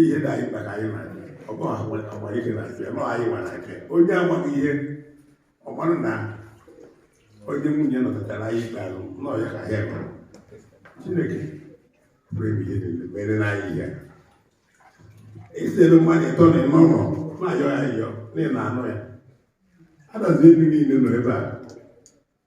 ihe na anyị kpara anyị na ọ bụ ahụ agwa ihe na nke nọ anyị nwara nke onye amaghị ihe ọ mara na onye nwunye nọkọtara anyị ikpe ahụ nọ ya ka ya nọ chineke pụrụ ime ihe niile mere na anyị ihe esere mmanya ịtọ na ịnọ nọ na-ayọ ya ayọ na ị na-anụ ya Adazi Enu niile nọ ebe a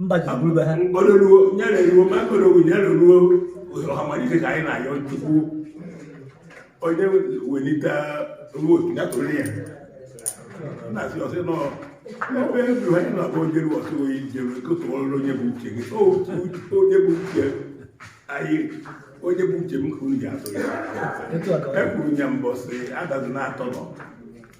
mba ji bụrụ be ha mkpọrọruo nyere ruo ma mkpọrọ owu nyere ruo ọhamalite ka anyị na-ayọ chukwu onye welite ruo otu ya tụrụ ya na-asị ọsị nọ ebe eburu anyị na-abụ onye ruo ọsị oyi jere kotụọrụ onye bụ uche gị onye bụ uche anyị onye bụ uche m ka unu ji atụ ya ekwuru ya mbọsị adazi na-atọ nọ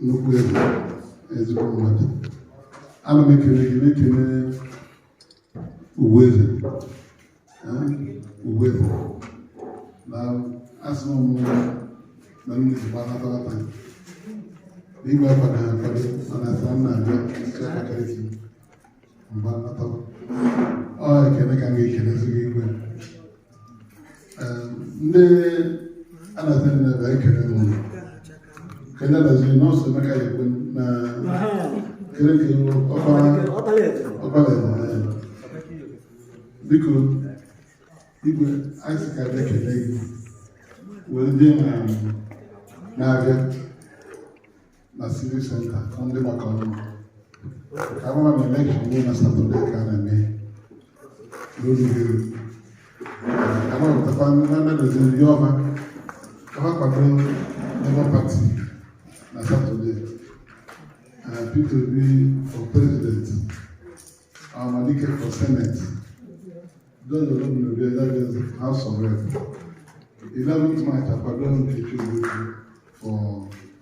nnukwu egwu ezigbo mmadụ ana m ekele gị na-ekele uwe eze uwe eze na asị m na ndị Igbo anatarata n'igwe akwado ha akwado mana asị m na-abịa isi akpaka isi mgbe anata ọ ekele ka m ga-ekelezi gị igwe ndị Adazi nnebe ekele m ụlọ kele Adazi nọọsụ emeka ekwe na kele kele ọkpalaeze biko igwe anyị ka bịa kele gị were ndị na-abịa na civic center ka ndị maka ọrụ ka mara na elekshọn niile na satọde ka a na-eme n'ozuberu ka ha pụtakwa na mmedozi ndị ọma ka ha kwado Labour Party na satọde Peter Obi for president Ohamadike for senate George Ozodinobi Adaobi House of Rep 11th March akwado Nkechi Ogbuefi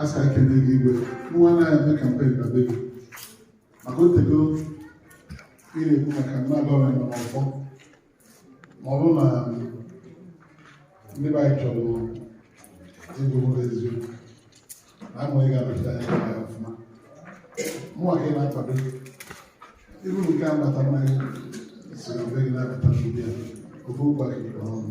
a sị ekele gị igwe nwa anaghị eme kampen na be gị maka otego ị na-ekwu maka na gọọmenti nọ n'ọfọ ma ọ bụrụ na ndị be anyị chọrọ ịbụ ụlọ eziokwu na amaghị ga-abata ya na ya ọfụma mụnwa ka ị na-akwado ibu nke a bata mmanya si na be gị na-abata n'ụdị ya ofe ụkwa gị kpọrọ ọnụ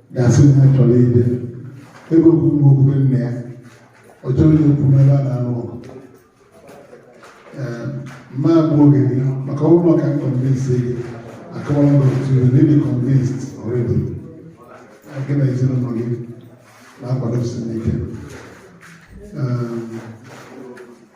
ga-asị na chọrọ ide ebe okwu nwa okwube nna ya ọ chọrọ ya okwu n'ebe a na-alụ ọgụ ee m ma egbu oge gị maka ọrụ maka convince gị akọwara m otu ihe na ị dị convinced already gị na ezinụlọ gị na-akwado sinike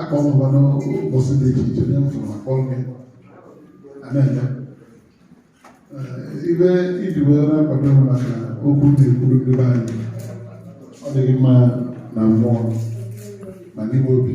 akpọ m ụwa n'ụbọchị dị iche iche nye mfụrụ akpọ m ya a na-eme ive e ji wee na-akwado maka okwu na-ekwuru ndị be anyị ọ dịghị mma na mmụọ na n'ime obi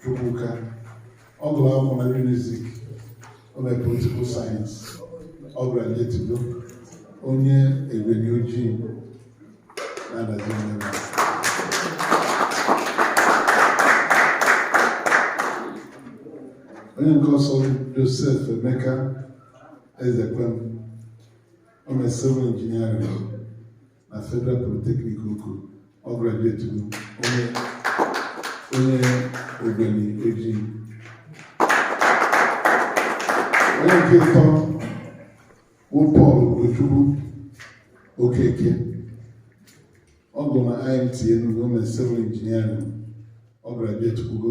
Chukwuka ọ gụrụ akwụkwọ na Unizik o mere political science ọ graduetigo onye Ogweni Ojii na Adazi Enu onye nke ọzọ Joseph Emeka Ezekwem o mere civil engineering na Federal Polytechnic Oko ọ graduetugo onye onye Ogweni Ojii onye nke ịtọ bụ Paul Ojukwu Okeke ọ gụrụ na IMT Enugu o mere civil engineering ọ graduetukwugo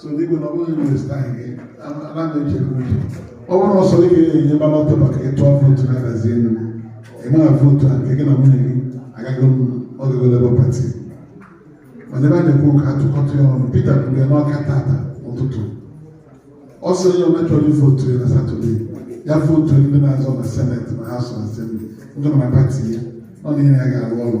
so dịgo na ọbụghị minista anyị anaghị echekwa uche ọ bụrụ ọsọ ị ga-enye balọtụ maka ịtụ vootu na Adazi Enu ịmara vootu a nke gị na nwunye gị agaghị ọgago Labour Party mana ebe a na-ekwu ka a tụkọta ya ọnụ Peter kwuru ya n'Ọka tata ụtụtụ ọ sị onye ọbụla chọrọ vootu ya na Saturday ya vootu ndị na-azọ na Senate ma House of Assembly ndị nọ na party ya ọ na ihe ya ga-arụ ọrụ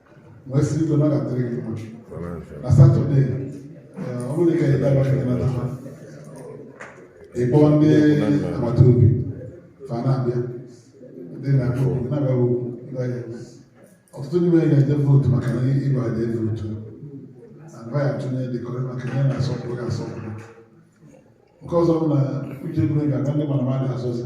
wee si igwe nabatara gị mma na Saturday eh, ọ bụrụ ka ị dara gị nata ha ị kpọọ ndị agbata obi fa na-abịa ndị na-abịa okwu na-abịa okwu ịbanye ọtụtụ ndị nwere ga-eje vootu maka na ịgba aja e ji otu agba ya atụnye dịkọrọ maka ihe na-asọpụrụ ga-asọpụrụ nke ọzọ bụ na uche bụrụ ga-agba ndị mara mmadụ azọzi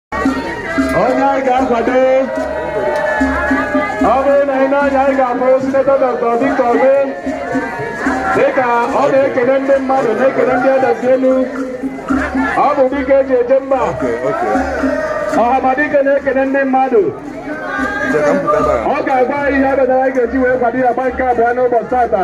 onye anyị ga-akwado ọ bụrụ na anyị n'anya anyị ga-akpọrọ sinetọ dọkta Victor Umeh dịka ọ na-ekene ndị mmadụ na-ekene ndị Adazi Enu ọ bụ dike e ji eje mba Ọhamadike na-ekene ndị mmadụ ọ ga-agwa anyị ihe abịa na anyị ga-eji wee kwado ya agba nke abụọ n'ụbọchị tata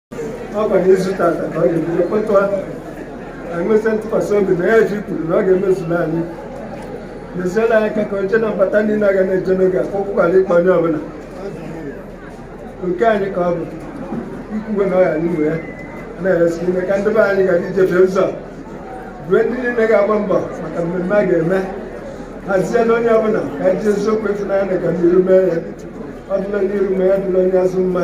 ọ gwara izu tata ka ọ ga-ebido kwetụ ahụ anyị nwesị ntụkwasị obi na ya ji kwuru na ọ ga-emezula anyị meziela anyị aka ka oche na mbata ndị na-aga na-eje n'oge a kwụkwara ịkpọ onye ọbụla nke anyị ka ọ bụ ikwuwe na ọ ya n'ime ya na-eresi ime ka ndị be anyị gara ije n'ụzọ rue ndị niile ga-agba mbọ maka mmemme a ga-eme hazie na onye ọbụla ka anyị ji eziokwu ịfụnanya na ka n'iru mee ya ọ dịrị onye iru mma ya dịrị onye azụ mma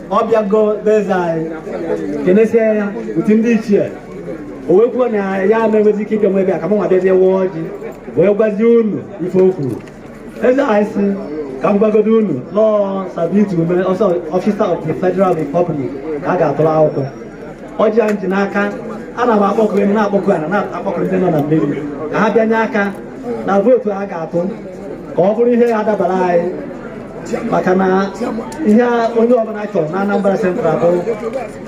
ọ bịago be eze anyị kenesie ya otu ndị ichie o wee kwuo na ya na-enwezi ike ịbịa nwe bịa ka m nwa bịa bịa gọọ ọjị wee gwazie unu ife o kwuru eze anyị sị ka m gwagodo unu na ọọ sir victor ume ọsọ ọfisa of the federal republic ka a ga-atụrụ akwụkwọ ọjị a m ji n'aka ana m akpọku enu na-akpọku ana na-akpọku ndị nọ na mmiri ka ha bịa nye aka na vootu a ga-atụ ka ọ bụrụ ihe ya-adabara anyị maka na ihe onye ọbụla chọrọ na Anambra Central bụ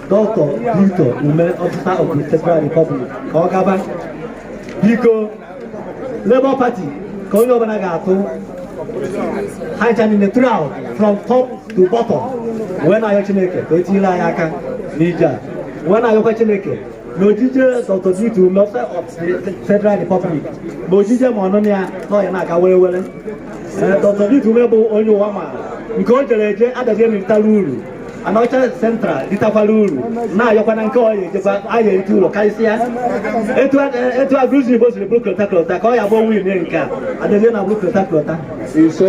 dọkịta Victor Ume ọfịsa of the Federal Republic ka ọ gaba biko Labour Party ka onye ọbụla ga-atụ ha ncha niile throughout from top to bottom wee na-ayọ Chineke ka o tinyere anyị aka n'ije a wee na-ayọkwa Chineke n'ojije Dr. Victor Officer of the Federal Republic ma ojije ma ọnịna ya na ọ ya na-aga were were Eh, Dr. Victor Ume bụ onye ụwa ma nke o jere eje Adazi ritara uru Anambra Central ritakwara uru na-ayọkwana nke ọ ya ejekwa a ya-erite uru karịsịa etu a- eh, etu Agụlụzigbo siri bụrụ kwọta kwọta ka ọ ya bụ onwe ime nke a Adazi Ana bụrụ kwọta kwọta ise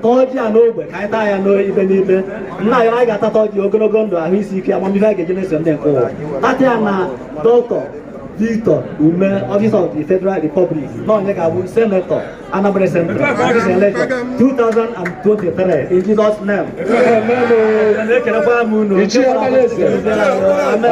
gọzie ya n'ogbe ka anyị taa ya n'ibe n'ibe nna ya anyị ga-atata ọjị ogologo ndụ ahụ isi ike amamihe a ga-eji meso ndị nke ụwa tata ya na dọkịta Victor Ume, Officer of the Federal Republic, na onye ga-abụ, Senator, Anambra Central, Constituency Election, 2023, in Jesus' name. Amen.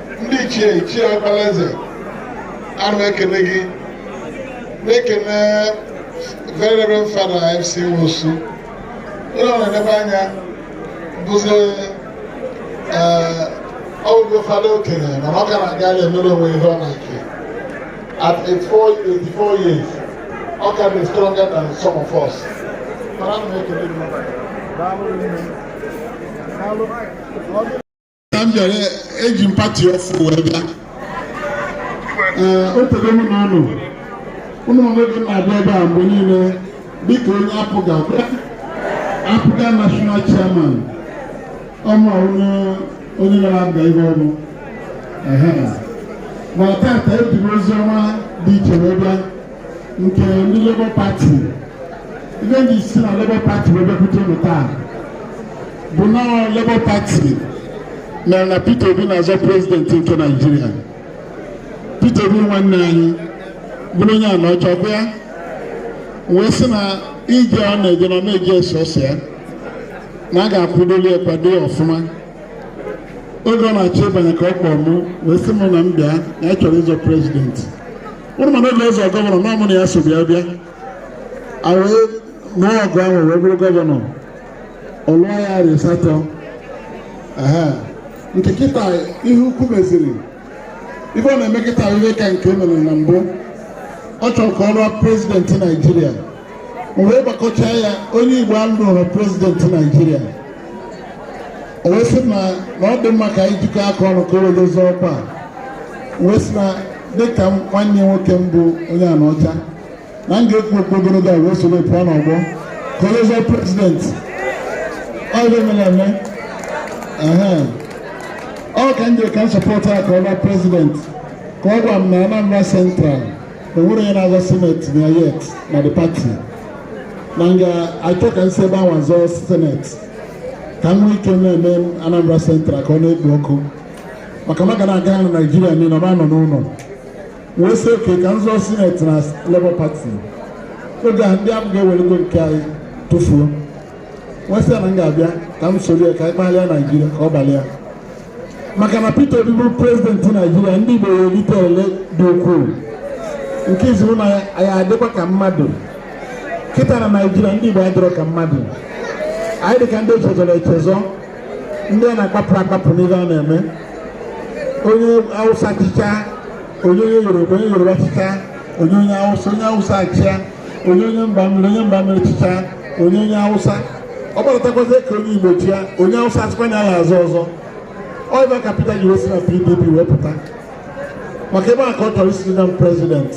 ndị ichie ichie okpalaeze ana m ekene gị na-ekene very reverend fada fc nwosu onye ọ na-enebe anya bụzi ọgwụgwọ fada okenye mana ọ ka na-aga ije emere onwe ihe ọ na-eke at 84 years ọ ka dị stronger than some of us mana m na-ekele gị taa m bịara eji m pati ọfụụ wee bịa ee o tego mụ na unu unu ma na m na-abịa ebe a mgbe niile dịka onye apga apga national chairman ọmụ ọhụrụ onye gara aga ihe ọrụ ehe ma tata eji m ozi ọma dị iche wee bịa nke ndị Labour Party ife m ji si na Labour Party wee bịakwute unu taa bụ na Labour Party mere na Peter Obi na-azọ prezidenti nke Naịjirịa Peter Obi nwanne anyị bụrụ onye Anọcha o kwuo ya wee sị na ije ọ na-eje na ọ na-eje sọsọ ya na a ga-akwụdoli ya kwado ya ọfụma oge ọ na-achọ ịbanye ka ọ kpọọ mụ wee sị m na m bịa na ya chọrọ ịzọ prezidenti ụrụ mana o jee zọọ gọvanọ na ọ mụ na ya so bịa bịa e wee mee ọgụ ahụ wee bụrụ gọvanọ ọ lụọ ya arọ ịsatọ Ehe. nke kịta ihe ukwu meziri ife ọ na-eme kịta ihe ka nke o mere na mbụ ọ chọrọ ka ọ lụọ prezidenti naijiria wee gbakọchaa ya onye Igbo alụrọ prezidenti Naijiria o wee sị na na ọ dị mma ka anyị jikọọ aka ọnụ ka o wee jee zọọ ọkwa a wee sị na dịka m- nwanne nwoke m bụ onye Anaọcha na m ga-ekwu okwu ogologo wee soro ya pụọ n'ọgbọ ka o jee zọọ prezidenti ọ dị mere eme Ehe. ọ ka m jere ka m sọpọtụ ya ka ọ lụọ prezidenti ka ọ gwa m na Anambra Central enwerọ onye na-azọ seneti na ya yet na the party na m ga-achọ ka m si ebe ahụ zọọ seneti ka m nwee ike na-eme Anambra Central ka ọ na-ekpo ọkụ maka maka na aga na Naijiria niile ọ nọ n'ụlọ wee sị okay ka m zọọ seneti na Labour Party oge a ndị APGA ewerego nke anyị tụfuo m wee sị ya na m ga-abịa ka m soro ya ka anyị kpalịa naijiria ka ọ balịa maka na Peter Obi bụrụ prezidenti naijiria ndị Igbo erite ele dị ukwuu nke izizi bụ na anyị adịkwa ka mmadụ kịta na naijiria ndị Igbo adịrọ ka mmadụ anyị dị ka ndị echezọrọ echezọ ndị a na-akpapụ akpapụ n'ihe a na-eme onye awụsa chịchaa o nye onye yoruba onye yoruba chịchaa o nye onye awụsa onye awụsa achịa o nye onye mba mmiri onye mba mmiri chịchaa o nye onye awụsa ọ gbadatakwazi ka onye igbo chịa onye awụsa asịkwa na ya azọ ọzọ ọ ebe a ka Peter ji wee si na PDP wee pụta maka ebe a ka ọ chọrọ isi na prezident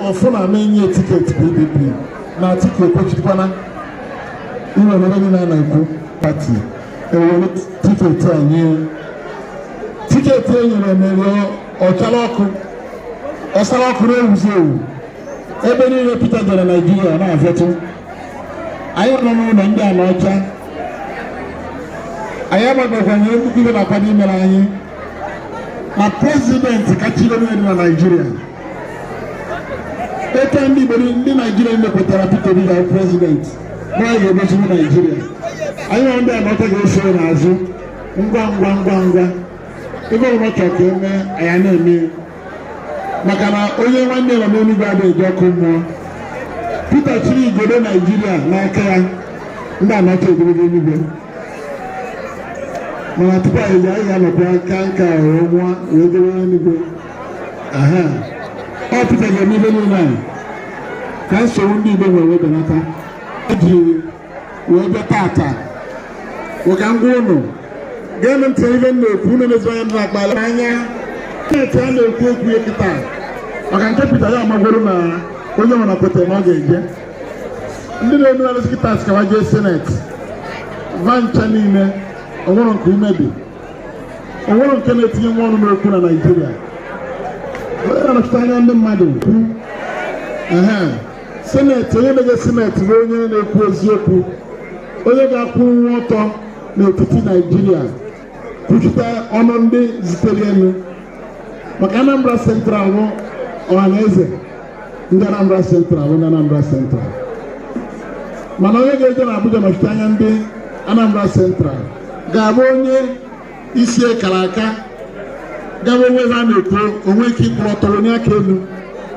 ọ fụ na a ma enye ya tiketi PDP na Atiku ekwechikwana iwe na ebe niile a na-ekwu pati e were tiketi nye ya tiketi e nyere ya mere ọ chara ọkụ ọ chara ọkụ na-enwuzi enwu ebe niile Peter jere Naijiria na-azọtụ anyị nọ n'ụlọ ndị Anaọcha anyị agbagokwa nwere nnukwu ibe na-akwado imere anyị na prezidenti kachiri onye dị na Naijiria eke ndị Igbo ndị Naijiria mepụtara Peter Obi ga prezidenti na anyị ga-egochiwu Naijiria anyị nwa ndị Anaọcha ga-eso ya n'azụ ngwa ngwa ngwa ngwa ife ọbụla ọ chọrọ ka e mee anyị na-eme maka na onye nwanne ya nọ n'eluigwe adịghị eje ọkụ mmụọ Pita jiri igodo Naijiria n'aka ya ndị Anaọcha ejego eluigwe mana tupu anyị ejee anyị ga-anọkwa nka nka wee nwa wee jebe n'eluigwe Pita ga-eme ife niile a ka nsogbu ndị Igbo nwere wedanata ejiri wee bịa tata ụka ngwa ụnụ geenụ ntị ife m na-ekwu unu emezighị anya m na-akpala anya steeti a na-ekwu okwu ya kịta maka nke pita ya amagworo na onye nwere kwetara na ọ ga-eje ndị na-enu arụsị kịta sị ka va jee seneti va ncha niile o nwere nke ume dị o nwere nke na-etinyenwu ọnụ n'okwu na naijiria onye na-anọchite anya ndị mmadụ kwu sineti onye na-eje sineti bụ onye na-ekwu eziokwu onye ga-akwụnwu ọtọ n'etiti naijiria kwuchite ọnụ ndị zitere ya nụ maka anambra central bụ ọha na eze ndị anambra central bụ ndị anambra central mana onye ga-eje na abuja nọchite anya ndị anambra central ga-abụ onye isi ya kara aka ga-awụ o nwee ife a na-ekwu o nwee ike ịkwụrụ ọtọ wenie aka elu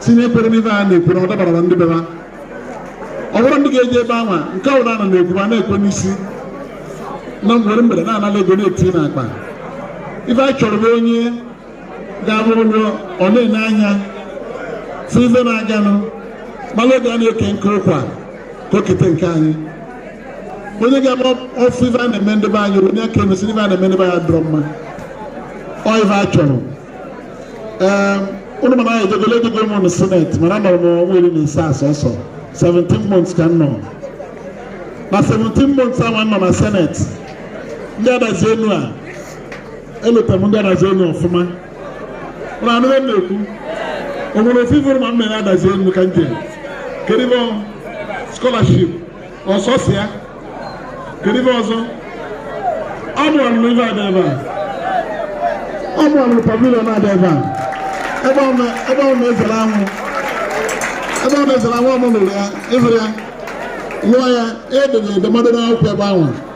sị na ekwerọ n'ife a na-ekwu na ọ dabararọ ndị be va ọ bụrọ ndị ga-eje ebe anwa nke ọ bụla a na-ekwu va na-ekwe n'isi na ngwere ngwere na-anala ego na-eti n'akpa ife a chọrọ bụ onye ga-abụ ọ nọọ ọ na-ene anya si ife na-aganụ malụ oge a na-eke nkụ ụkwa ka o kete nke anyị onye ga-eme ọ fụ ife a na-eme ndị be anyị o wenie aka elu sị ife a na-eme ndị be anyị adịrọ mma ọ ife a chọrọ ee unu ma na anyị ejegolo ejego m na seneti mana anọrọ m ọnwa iri na asaa sọsọ 17 months ka m nọ na 17 months ahụ m nọ na seneti ndị adazi enu a elota m ndị adazi enu ọfụma unu anụ m na-ekwu o nwere ofe ifuru ma m mere adazi enu ka m jere kedu ife ọ scholarship ọ sọsọ ya kedu ife ọzọ ọ bụ mụ rụrụ ife a dị ebe a ọ bụ mụ rụrụ pavilion a dị ebe a ebe ọ na- ebe ọ na-ezere anwụ ebe ọ na-ezere anwụ ọ mụ rụrụ ya ịhụrụ ya lụọ ya edere edemede n'akwụkwọ ebe ahụ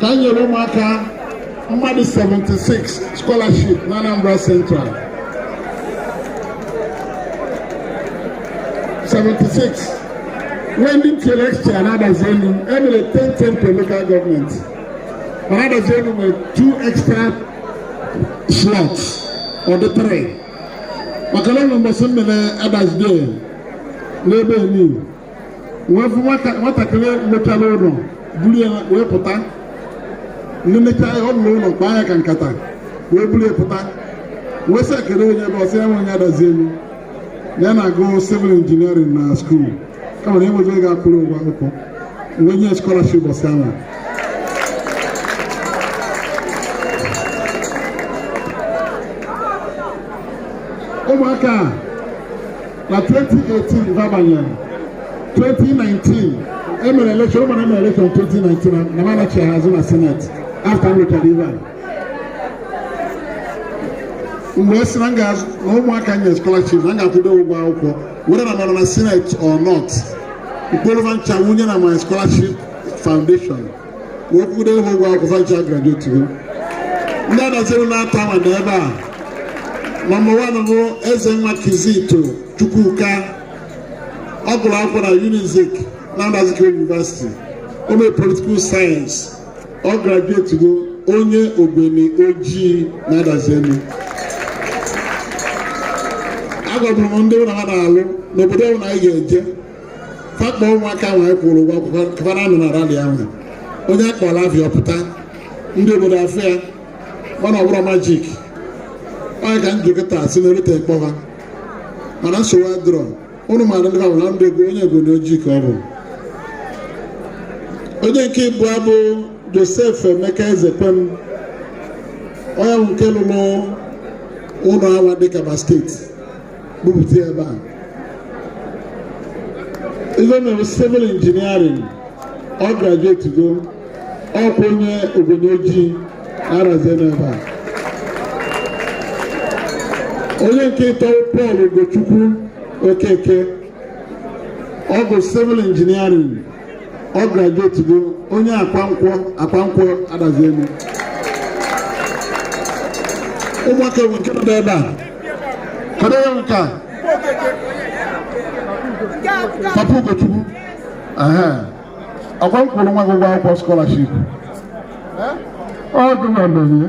ka anyị nyere ụmụaka mmadụ 76 scholarship na Anambra Central 76 when ndị tinyere extra na adazi enu e mere 10 10 per local government mana adazi enu nwere 2 extra slots ọ dị 3 maka na ụlọ mbọsị e mere adazi day n'ebe elu wee fụ nwatakịrị mechara ụlọ buru ya wee pụta ndị mechaa ya ọ rụrụ ụlọ kpaa ya ka nkata wee buru ya pụta wee sị ya kedu onye ebe ọ sị ya wụ onye adazi enu ya na-agụ civil engineering na skuul kama na enwezi ego akwụrụ ụgwọ akwụkwọ wee nye scholarship mbọsị ahụ ụmụaka a na 2018 babanyere 2019 emere elekshọn ụnụ ma na emere elekshọn 2019 na- na m anachigha azụ na seneti afta m rụchara ife a mgbe e si na m ga-azụ na ụmụaka nye scholarship na m ga-akwụdo ụgwọ akwụkwọ whether na m nọ na senate or not m kpọrọ va ncha wunye na my scholarship foundation kwụdo ha ụgwọ akwụkwọ ncha agraduate go ndị adazi enu n'atọ nọ na ebe a nọmba wan bụ ezenwa kizito chukwuka ọ gụrụ akwụkwọ na unizik Nnamdi Azikiwe University o mee political science ọ graduate go onye ogweni ojii na adazi enu agwabụrụ m ndị ụlọ ha na-alụ n'obodo ụlọ anyị ga-eje fa kpọ ụmụaka nwee kwụrụ ụgwọ akwụkwọ kpara anụ na rali ahụ onye a kpọlụ afa ya ọ pụta ndị obodo afụ ya mana ọ bụrọ majik onye ka njikọta si na erute m kpọ va mana nsogbu adịrọ ụnụ mara ndị ahụ na ndị ego onye ogweni ojii ka ọ bụ onye nke ịbụa bụ josef emeka ezekwem onye nke lụrụ ụlọ awa dịka ba steeti kpụpụta ebe a ife o mere bụ civil engineering ọ graduate go ọkwa onye ogweni ojii adazi enu ebe a onye nke ịtọ bụ Paul Ugochukwu Okeke ọ gụ civil engineering ọ grajuetugo onye akwankwọ akwankwọ adazi enu ụmụaka enwe nke nọ n'ebe a kedu onye nke a papa ugochukwu aha ọkwa m kwụrụ nwa gị ụgwọ akwụkwọ skọlaship ọ dị na mmemme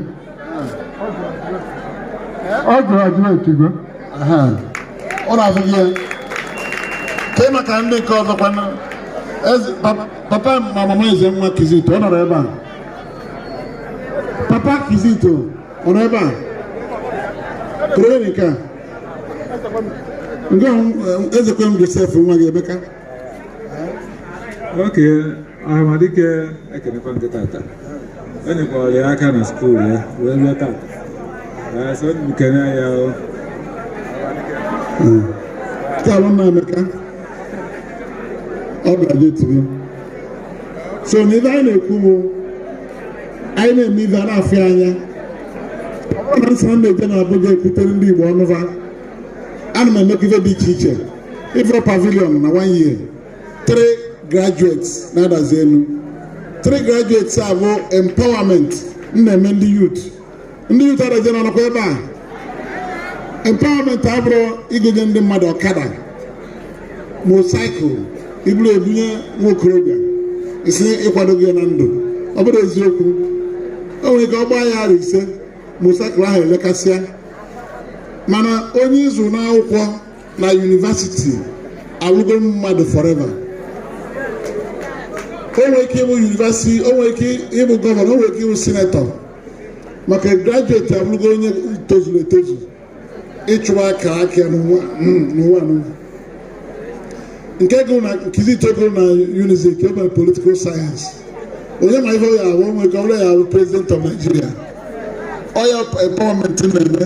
ọ graduate go ọ na-azụ gị ya kee maka ndị nke ọzọ kwanụ papa ma mama ezenwa kizito ọ nọrọ ebe a papa kizito ọ nọ ebe a kee nke a nke ezekwem josef nwa gị emeka oke amadike ekenekwa m gị tata o nyekwara ya aka na skuul ya wee ruo tata Ee, so m kene ya o Tala m Emeka ọ grajuetugo so na ife anyị na-ekwu bụ anyị na-eme ife a na-afụ ya anya ọ na nsara m na-eje na Abuja ekwutere ndị Igbo ọnụ va ana m emekwa ife dị iche iche ife pavilion na one year three graduates na Adazi Enu three graduates a bụ empowerment m na-eme ndị youth ndị youth Adazi Enu nọkwa ebe a empowerment abụrọ ị ga-enye ndị mmadụ ọkada motorcycle i buru ya bunye nwa okorobịa ị sị ị kwadogo ya na ndụ ọ bụrọ eziokwu o nwere ike ọ gbaa ya arọ ise motorcycle ahụ elekasịa mana onye ị zụ n'akwụkwọ na yunivasiti abụrụgo mmadụ forever o nwere ike ịbụ yunivasiti o nwere ike ịbụ gọvanọ o nwere ike ịbụ sinetọ maka grajueti abụrụgo onye tozuru etozu ịchụba akaraka n'ụwa n'ụwa nke gụrụ na nkizi itogoro na unizik o mere politikal sayensị onye ma ife ya ahụ nwere ike ọ bụrụ ya ya-abụ prezident of Nigeria ọ ya empowerment m na-eme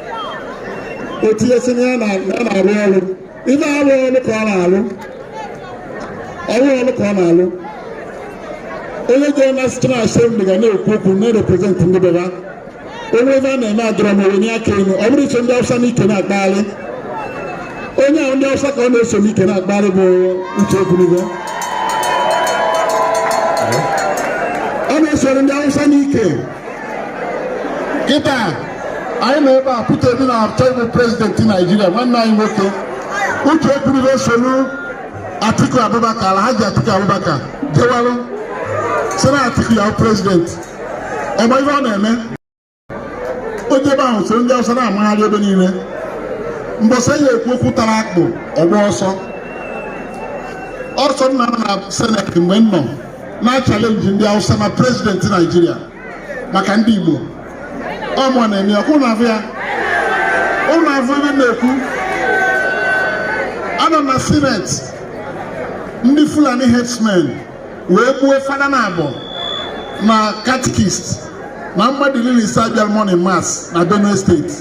otu esi na ya na-arụ ọrụ ife arụ ọrụ ka ọ na-arụ ọrụ ọrụ ka ọ na-arụ onye jere na state assembly ga na-ekwu okwu na-reprezent ndị beba onye ebe a na-eme adịrọ mma onye aka enu ọ bụrọ iso ndị awụsa n'ike na-akpagharị onye ahụ ndị awụsa ka ọ na-eso n'ike na-akpagharị bụ uche ogologo ọ na-esoro ndị awụsa n'ike kịta anyị nọ ebe a Peter Obi na-achọ ịbụ prezidenti Naijiria nwanne anyị nwoke Uche Ekwunife solu Atiku Abubakar Alhaji Atiku Abubakar jewalụ sị na Atiku ya-abụ prezidenti ọ bụ ife ọ na-eme o je ebe ahụ so ndị Awụsa na-amagharị ebe niile mgbe a sị ya kwuo okwu tara akpụ ọ gbaa ọsọ ọsọ nna na seneti mgbe m nọ na chalenji ndị Awụsa na prezidenti Naijiria maka ndị Igbo ọ mụ na-eme ọkwa unu afụ ya unu afụ ebe m na-ekwu anọ m na seneti ndị Fulani herdsmen wee gbuo fada naabọ na katikist na mmadụ iri na isaa bịara morning mass na Benue steeti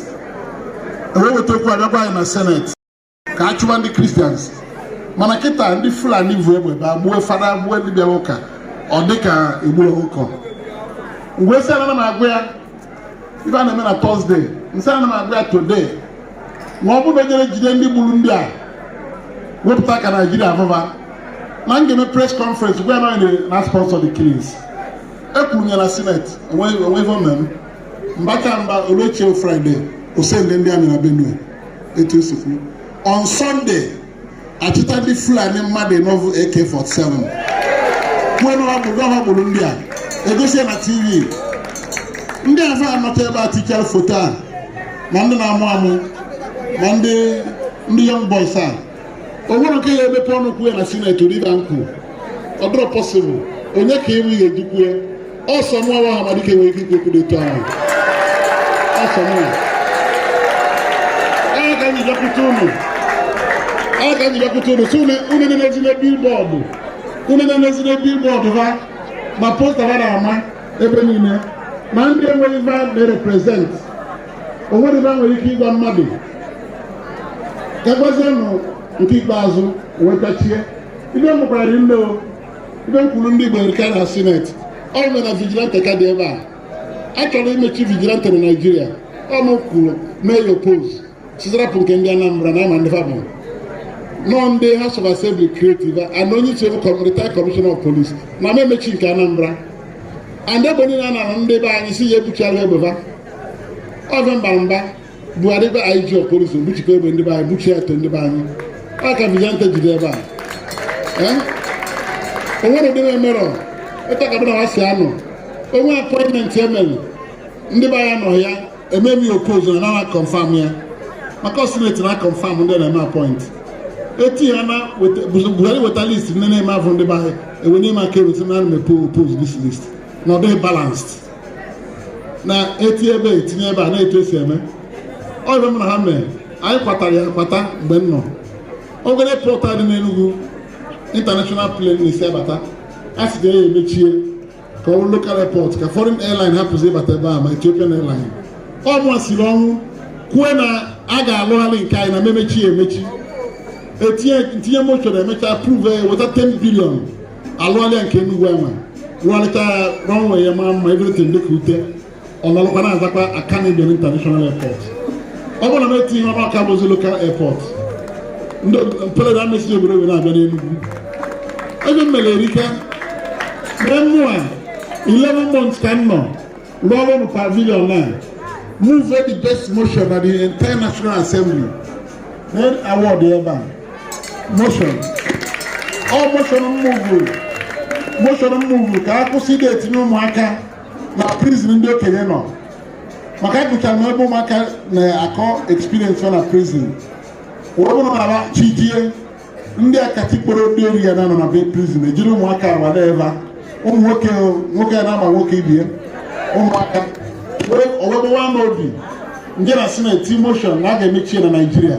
e wee weta okwu a bịakwa anyị na seneti ka a chụwa ndị kristians mana kịta ndị fulani vu egbe ba gbuo fada gbuo ndị bịara ụka ọ dị ka e gburu ọkụkọ m wee sị ana m agwa ya ife a na-eme na tọzdee m sị ana m agwa ya today ma ọ bụrụ na ejerọ jide ndị gburu ndị a wepụta ka naijiria fụ fa na m ga-eme pres kọnferensị gwa ya na ọ ya na-sponsọ the killings ekwuru m ya na sineti o nwe ife o me m mbaka mba o lue echi ya fraịde o sendi ndị amị na benue etu e si kwuo on Sunday a chịta ndị Fulani mmadụ ịnọ vu AK47 kwuo na ọ bụ ha gburu ndị a e gosi ya na TV ndị afụ anọta ebe a tichara foto a ma ndị na-amụ amụ ma ndị ndị young boys a o nwere nke ya-emepe ọnụ kwuo ya na sineti riva nkwu ọ dịrọ pọsịbụl onye ka ịnwe ihe eji kwue ọ sọ mụnwa Ọhamadike nwere ike ikwu okwu dị otu ahụ ọ sọ mụ onye ka anyị bịakwute unu onye ka anyị bịakwute unu si unu unu na-enezi na bịlbọọdụ unu na-enezi na bịlbọọdụ ha ma posta ha na-ama ebe niile ma ndị enweghị va na-reprezent o nwere ive m nwere ike ịgwa mmadụ egwezienụ nke ikpeazụ wee kachie ive m gwara unu o ive m kwuru ndị Igbo erika na sineti ọ bụ na vigilante ka dị ebe a a chọrọ imechi vigilante na Naịjirịa ọ m kwuru mee ya opos sị va rapụ nke ndị Anambra na a ma ndị fa bụ na ọ ndị House of Assembly create ya and onye isi retired commissioner of police na a ma emechi nke Anambra and egbe niile a na-arụ ndị be anyị si ya ebuchi alụ egbe va ọzọ mbara mba buhari bụ anyị ji okporozo gbuchikọ egbe ndị be anyị gbuchie eto ndị be anyị ọ ka vigilante ji dị ebe a Eh? o nwere ụdị na-emerọ ịtakabụ na ha si anọ o nwe apọịntmentị e mere ndị be anyị nọ ya emee m ya opoz na a na kọnfam ya maka ọ sineti na-akọnfam ndị na-eme apọịntị eti ya na weta- Bus- buhari weta list ndị na-eme avụ ndị be anyị ewenie m aka elu sị na ana m epo opoz dis list na ọ dịghị balansd na etinye ebe etinye ebe a na etu esi eme ọ ive m na ha mee anyị kwatara ya kpata mgbe m nọ oge airport a dị n'Enugu international plane na-esi abata a sị ka e mechie ka ọ bụrụ local airport ka foreign airline hapụzi ịbata ebe a ma Ethiopian airline ọ mụa siri ọnwụ kwue na a ga-alụgharị nke anyị na a ma emechi ya emechi etinye m tinye moshọn e mechaa approve ya weta 10 bilion a lụọlịa nke Enugu e wee rụọlịta ya runway ya mara mma everything dịka ute ọlọlụkwa na-azakwa Akanu Ibiam International Airport ọ bụrụ na m etinyerọ aka ọ bụzi lokal airport plane ama esi obodo were abịa n'Enugu ive m mere erika mee mmụọ 11 months ka m nọ rụọ ọrụ nụ pavilion na move the best motion na the entire National Assembly na award ebe a moshọn ọ moshọn m muvu moshọn m muvu ka a kwụsị ịdị etinye ụmụaka na prizin ndị okenye nọ maka agụchara m ebe ụmụaka na-akọ eksperiensị na prizin wee bụrụ na mgbe chi jie ndị akatikporo ndị ori ya na-anọ na be prizin ejiri ụmụaka awa na-eva ụmụ nwoke nwoke ya na-ama nwoke ibe ya ụmụaka wee o wee gbawa m obi m jee na sineti moshọn na a ga-emechi ya na naijiria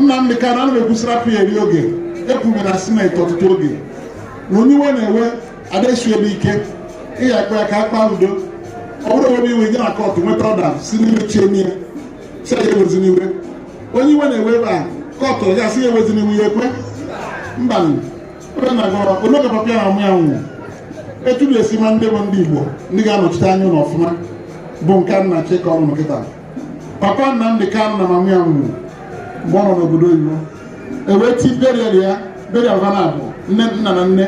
Nnamdị Kanu ana m ekwu sị rapụ ya eri oge ekwuru na sineti ọtụtụ oge na onye iwe na-ewe adaesu ebe ike ị ya-akpọ ya ka a kpaa udo ọ bụrọ ebe iwe nye na kọtụ nweta ọda sị n'ime chie n'ihe sị ya ewezina iwe onye iwe na-ewe ebe a kọtụ ya sị ya ewezina iwe ọ ya-ekwe mba ebe na gọrọ n'oge papa ya na mama ya nwụrụ etu na-esi ma ndị bụ ndị Igbo ndị ga-anọchite anya unu ọfụma bụ nke a m na-achọ ịkọrọ unu kịta papa Nnamdi Kanu na mama ya nwụrụ mgbe ọ nọ n'obodo oyibo e wee ti burial ya burial ha naabọ nne nna na nne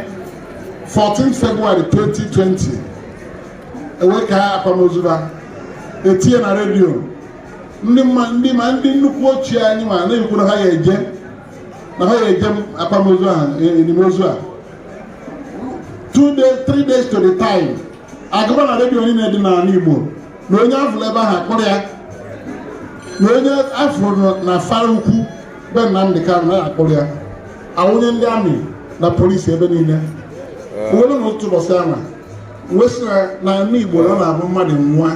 14 February 2020 e wee kaa akwamozu ha etinye na redio ndị ma ndị ma ndị nnukwu ichie anyị ma na-ekwu na ha ya eje na ha ya eje akwamozu na elimozu a two days three days to the time agụba na redio niile dị n'ala Igbo na onye afụrụ ebe ahụ akpụrụ ya na onye afụrụ n'Afara ukwu be Nnamdị Kanụ na a ya-akpụrụ ya awụnye ndị amị na polisi ebe niile o wee ruo n'otu ụbọchị a mụ wee sị na n'ala Igbo na ọ na-abụ mmadụ nwụọ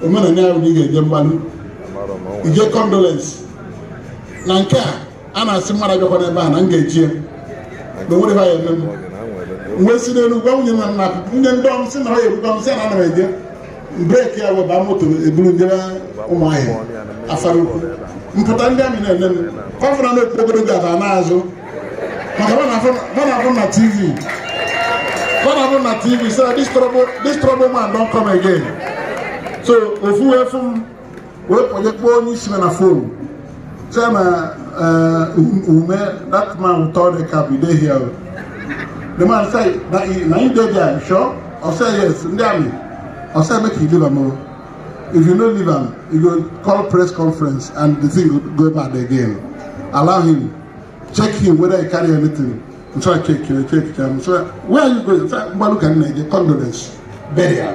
omenala ya bụ na ị ga-eje mgbalụ ije condolence na nke a a na-asị mmadụ abịakwana ebe a na m ga-eje ya na o nwerọ ife ha ya-eme m wee si n'Enugwu nwunye na nna nwunye ndị ọm si na ọ ya ebuga m si na ana m eje breki ya wee ba moto eburu m jebe Ụmụahịa Afara ukwu m pụta ndị amị na-ele m kọfụra na okpu ogologo aba na-azụ maka ha na-afụ m na tv ha na-afụ m na tv so this trouble this trouble man don come again so ofu wee fụ m wee kpọnye kpọọ onye isi na fon sịa na eh, ume that man ụtọ dị ka bido hia the man say na anyị dey there sure ọ sị yes ndị amị ọ sị make you leave am o if you no leave am you go call press conference and the thing go go bad again allow him check him whether he carry anything nso a check you check him so where are you going mgbalu ka nna gị condolence burial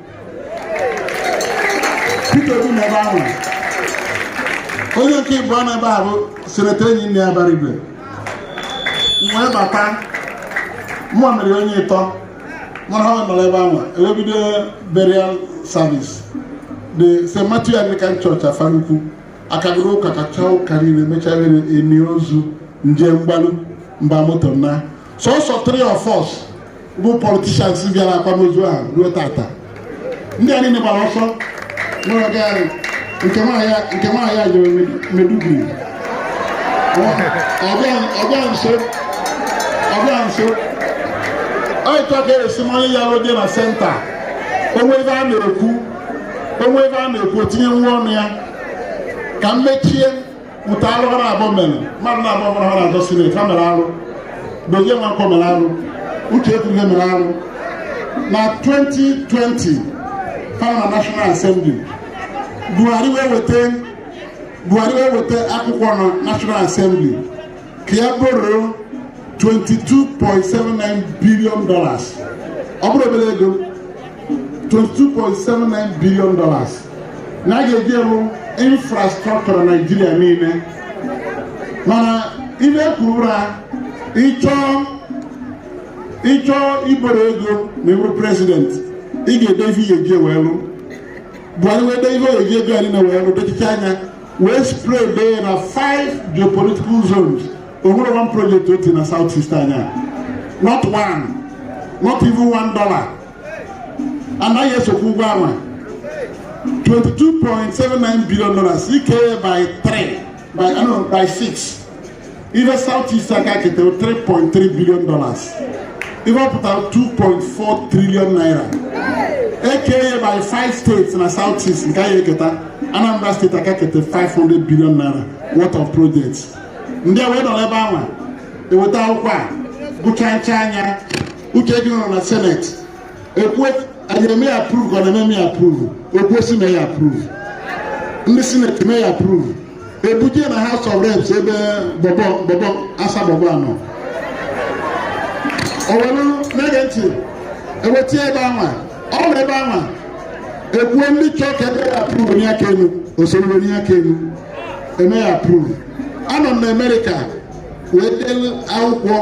Peter Obi nọ ebe ahụ onye nke ịbụa nọ ebe a bụ seneta Enyinnaya Abaribe m wee bata mụ mere onye ịtọ mụ rue ha nọrọ ebe ahụ e wee bido burial service at St. Matthew Anglican Church Afarukwu a kagoro ụka kachaa ụka niile mechaa were nie ozu m jee mgbalu m ba moto naa sọsọ three of us bụ politicians bịara akwamozu ahụ ruo taata ndị a niile gbara ọsọ nwere ọga ya nke nwaanyị a jere Maiduguri ọ bịa nso ọ bịa nso ọ etu a ka e si ama onye ya-adị na senta o nwee ebe a na-ekwu o nwee ebe a na-ekwu o tinye nwa ọnụ ya ka m mechie otu alụ ha naabọ mere mmadụ naabọ mụ na ha na-azọ sineti ha mere arụ Dozie Nwankwọ mere arụ Uche Ekwunife mere arụ na 2020 ha nọ national assembly Buhari wee weta Buhari wee weta akwụkwọ na national assembly ka ya borrow 22.79 billion dollars ọ bụrọ obere ego 22.79 billion dollars na a ga-eji alụ infrastructure Nigeria niile mana ibe kwurura ịchọ ịchọ ịborrow ego ma ị bụrụ president ị ga-ede ife ị ya-eji wee lụ Buhari wee dee ife ọ ya-eji ego ya niile wee lụ dechicha ya wee spread ya na five geopolitical zones o nwerọ one project o tii na South East anyị a not one not even one dollar and anyị ya-esokwụ ụgwọ anwa 22.79 billion dollars i kee by 3 by, I know, by 6 ife South East aka-ekete 3.3 billion dollars ife ọ pụtara 2.4 trillion naira e kee ya by 5 states na South East nke anyị eketa Anambra state aka-ekete 500 billion naira worth of projects ndị a wee nọrọ ebe ahụ e weta akwụkwọ a gụchachaa ya Uche gị nọrọ na senate e kwe aye e mee ya approve ka ọ na-eme ya approve okwu osi mee ya approve ndị senate mee ya approve e buje na House of Reps ebe bọbọ bọbọ asa bọbọ a nọ ọkwa unu na-ege ntị e wetie ebe anwa ọ nọrọ ebe anwa e kwuo ndị chọrọ ka e mee ya approve wenie aka elu o soro wenie aka elu e mee ya approve anọ m na America wee delu akwụkwọ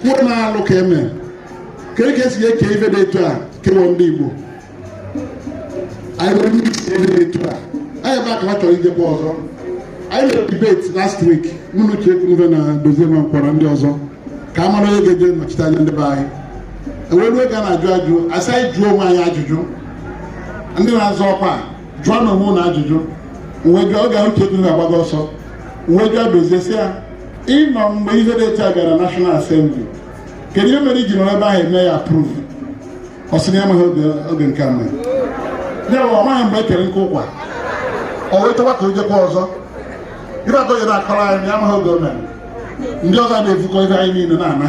kwuo na alụ ka e me ka eke si eke ife dị etu a kewa ndị Igbo anyị nwere ndị isi ebe etu a anyị bụ aka ha chọrọ ijekwa ọzọ anyị mere debate last week mụ na Uche Ekwunife na Dozie Nwankwo na ndị ọzọ ka a mara onye ga-eje nọchite anya ndị be anyị e ruo oge a na-ajụ ajụjụ a sị anyị jụọ onwe anyị ajụjụ ndị na-azọ ọkwa jụọ nụ onwe unu ajụjụ mụ wee jụọ oge ahụ Uche Ekwunife agbago ọsọ mụ wee jụọ Dozie sị ya ị nọ mgbe ihe dị etu a bịara National Assembly kedu ihe mere i ji nọrọ ebe ahụ e mee ya approve ọ sị na ya amaghị oge oge nke a mere ya bụ ọ maghị mgbe e kere nke ụkwa ọ wee chọwa ka o jekwa ọzọ ibe atọ ya na-akọrọ anyị na ya amaghị oge o mere ndị ọzọ a na-efukọ ife anyị niile na-ana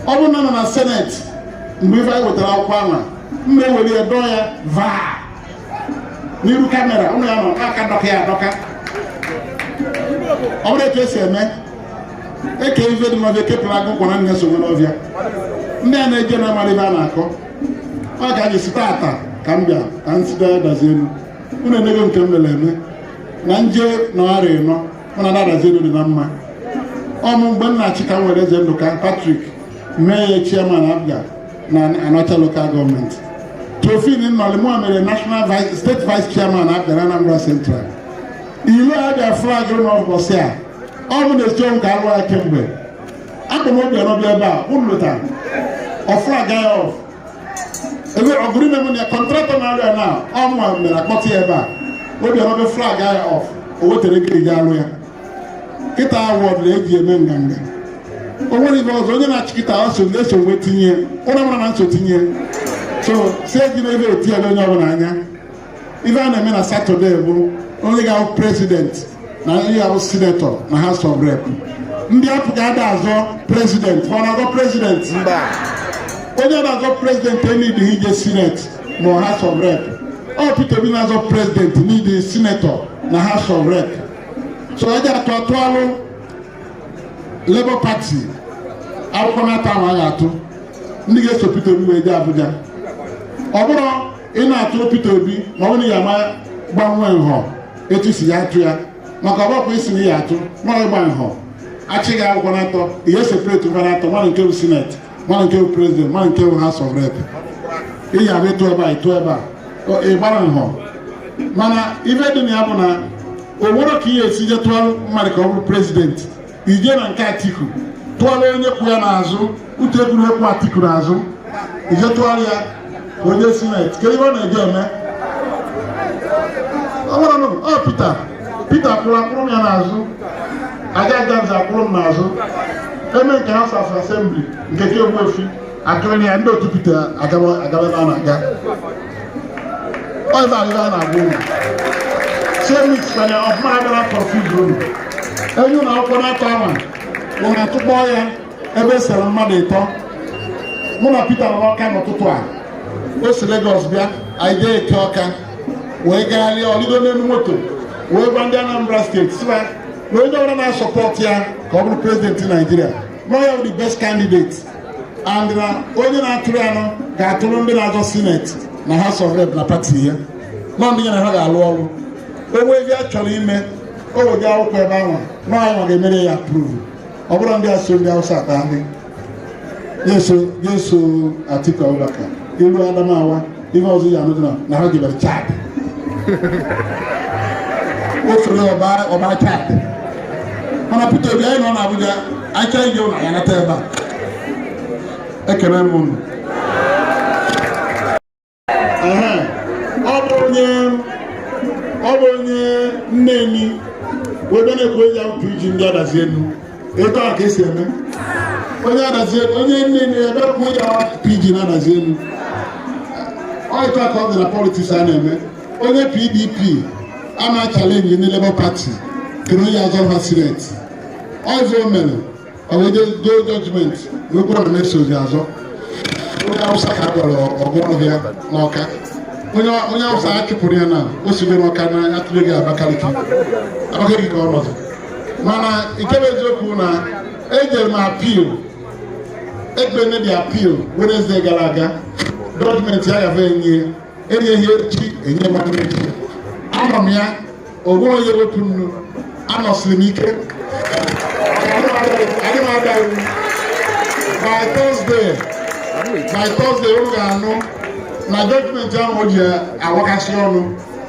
ọ bụrụ na m nọ na senate mgbe ife anyị wetara akwụkwọ ahụ m ya-ewere ya dọọ ya vaa n'iru camera unu ya-anọ aka dọka ya adọka ọ bụrọ etu e si eme eke ife dị n'ọfịa ekepụrụ agụ kwa na ya so nwere ọfịa ndị a na-eje na amarọ ife a na-akọ ọ ka anyị site ata ka m bịa ka m site Adazi Enu unu emego nke m mere eme na nje na ọrịa ịnọ mana na Adazi Enu dị na mma ọ mụ mgbe m na-achị ka m were Eze Nduka Patrick mee ya chairman APGA na Anaocha local government Tofin Nnọlị mụ mere national vice state vice chairman APGA na Anambra Central ile abịa flag ụlọ ụbọchị a ọ bụ na eziokwu ka alụ ya kemgbe akpọ m Obiano bịa ebe a unu lotara ọ flag ya off ebe ọgụrụ ime m na kọntraktọ na arịa na ọmụma mere akpọta ya ebe a Obiano bịa flag ya off o wetara ego eji alụ ya kịta awọd na eji eme nganga o nwere ife ọzọ onye na-achị kịta ọ so na-eso nwe tinye ụra mara na nso tinye so si eji na ebe eti ya onye ọbụla anya ife a na-eme na satọde bụ onye ga-abụ prezidenti na onye ga-abụ sinetọ na House of Rep ndị APGA ada azọ prezidenti ma ọ na-azọ prezidenti mba onye ada azọ prezidenti enwedịghị ije sineti ma ọ House of Rep ọ Peter Obi na-azọ prezidenti na ndị sinetọ na House of Rep so ọ ji atụ atụalụ Labour Party akwụkwọ n'atọ ahụ a ga-atụ ndị ga-eso Peter Obi wee jee Abuja ọ bụrụ ị na-atụ Peter Obi ma ọ na ya ma gbanwee nhọ etu esi eje atụ ya maka ọgbakwa isi na ya atụ ma ịgba nhọ achị gị akwụkwọ n'atọ i separate ụzọ n'atọ malụ nke bụ sineti malụ nke bụ prezident malụ nke bụ house of rep ị ya abụ ịtụ ebe a ịtụ ebe a ị gbara nhọ mana ife dị na ya bụ na o nwerọ ka ị ya-esi je tụọ mmadụ ka ọ bụrụ prezidenti i je na nke atiku tụọlụ onye kwụ ya n'azụ uche ekwunife kwụ atiku n'azụ i je tụọlụ ya o je sineti kedu ihe ọ na-eje eme ọ gwara nụ ọ pita pita kwụrụ akwụrụ m ya n'azụ aja ajanzi akwụrụ m n'azụ eme nke house asembli nke ka egwu efi atụrụ ya ndị otu pita agaba agaba na na-aga ọzọ arịrị a na-agwa unu semis kwanye ọfụma abịa na polling unit enye unu akwụkwọ n'atọ a ma were tụkpọ ya ebe e sere mmadụ ịtọ mụ na Pita nọ ọka n'ụtụtụ a o si Legọs bịa anyị jee eke ọka wee gagharịa ọ lịgo n'elu moto wee gwa ndị Anambra steeti si na onye ọbụla na-asọpọtụ ya ka ọ bụrụ prezidenti Naijiria nọ ya bụ the best candidate and na onye na-atụrụ ya nọ ga-atụrụ ndị na-azọ sineti na House of Rep na pati ya nọ ndị ya na ha ga-alụ ọrụ o nwee ihe ọ chọrọ ime o wega akwụkwọ ebe ahụ nwa na ọ wa ga-emere ya apruvu ọ bụrụ ndị aso ndị Hausa ata ndị ga-eso Atiku Abubakar ilu Adamawa ihe ọzọ ị ya-anụdị na ha jebere chad o soro wa baa chad mana Peter Obi anyị nọ na Abuja anyị chọọ ije ụlọ ya nata ebe a ekele m unu ọ bụ onye ọ bụ onye neni wee bịa na-ekwu eji akwụkwọ iji ndị adazi enu etu a ka esi eme onye adazi enu onye nne nne ya bịa kwuo ya pidgin adazi enu ọ etu a ka ọ dị na politiks a na-eme onye pdp a na-achalenji ndị labour pati kere onye azọ ha sineti ọzọ o mere o wee jee doo jọjimenti wee kwuru na na-esozi azọ onye awụsa ka a gwara ọgụ ọhịa n'ọka onye onye awụsa a chụpụrụ ya na o sigoro ọka na atụle gị abakaliki abakaliki ka ọ nọzi mana nke bụ eziokwu na ejere m apil ekpe mebi apil Wednesday gara aga dọkụmenti ya gafe enye enyeghị echi enye m echi anọ m ya onwe onye wepụ nnu anọsiri m ike adị m ada iwu by Thursday by Thursday unu ga-anụ na dọkụmenti ahụ e ji awakasị ọnụ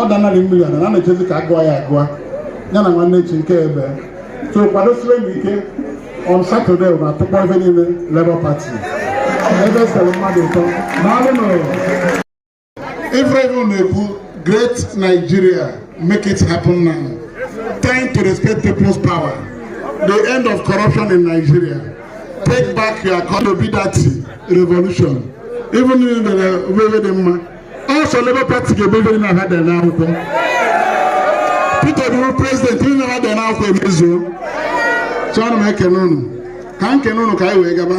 ọ danarị mmiri ana na echezi ka agụọ ya agụọ ya na nwanne echi nke ebe so kwadosiwe m ike on satọde na atụkpọ ebe niile Labour Party ebe sere mmadụ ụtọ n'alụ na Every na-ekwu great Nigeria make it happen now time to respect people's power the end of corruption in Nigeria take back your economy that revolution ebe niile dị mma ọ sọ Labour Party ga-emebe na ha dere n'akwụkwọ Peter Obi bụ prezidenti ihe na ha dere n'akwụkwọ emezuo chọrọ m ekene unu ka m kene unu ka anyị wee gaba